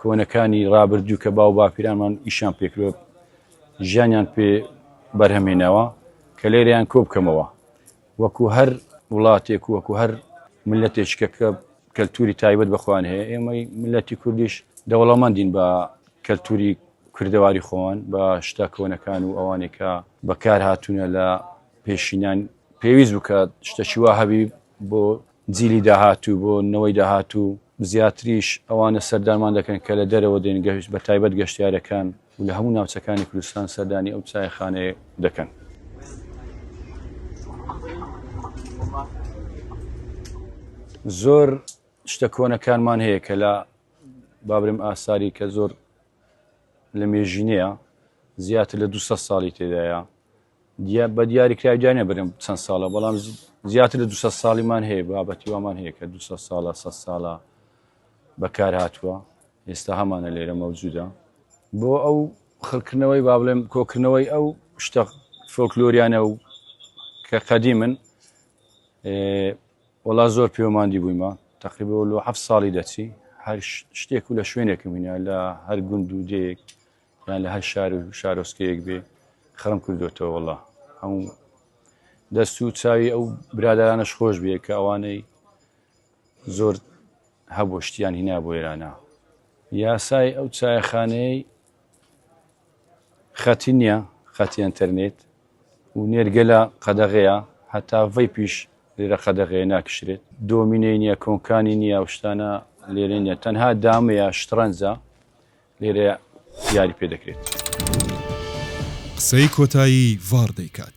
کۆنەکانی ڕابردوو کە باو باپیرانمان ئیشان پێکرۆ ژیانیان پێ بەرهەمێنەوە کە لێریان کۆ بکەمەوە وەکو هەر وڵاتێک وەکو هەر ملەتێکە کە کەلتوری تایبەت بەخۆیان هەیە ئێمەی ملەتی کوردیش دەوڵەمەندین بە کەلتوری کردەواری خۆوان بە شتا کۆنەکان و ئەوانێکە بەکار هاتوونە لە پێشینان پێویست بکات شتەشیوا هەبی بۆ جیلی داهاتوو، بۆ نەوەی داهاتوو زیاتریش ئەوانە سەردانمان دەکەن کە لە دەرەوە دێن، بە تایبەت گەشتیارەکان و لە هەموو ناوچەکانی کوردستان سەردانی ئەو چایخانەیە دەکەن. زۆر شتە کۆنەکانمان هەیە کە لە بابرم ئاساری کە زۆر لە مێژینەیە زیاتر لە دو ساڵی تێدایە دیا بە دیاری کرای جانە برم چەند ساڵە بەڵام زیاتر لە دو ساڵیمان هەیە بابەتی وامان هەیە کە دو ساڵە سە ساڵە بەکار هاتووە ئێستا هەمانە لێرە مەوجودە بۆ ئەو خەکردنەوەی با بڵێم کۆکردنەوەی ئەو شتە فۆکلۆریانە و کە قەدی من وڵا زۆر پێوەماندی بوویمە تقریبە لۆ ه ساڵی دەچی هەر شتێک و لە شوێنێکم هینە لە هەر گوند و دێک یان لە هەر شار و شارۆسکەیەک بێ خڕم کردوێتەوە وڵا هەموو دەست و چاوی ئەو برادرانەش خۆش بێ کە ئەوانەی زۆر هەبوو شتیان هینا بۆ ئێرانە یاسای ئەو چایخانەیە خەتی نییە خەتی ئەتەرنێت و نێرگەلە قەدەغەیە هەتا ڤی پیش لێرە قەدەغەیە ناکشرێت دۆمینەی نییە کۆنکانی نییە شتانە لێرە نیە تەنها دامەیە شتڕەنجە لێرە دیاری پێ دەکرێت. قسەی کۆتایی ڤار دەیکات.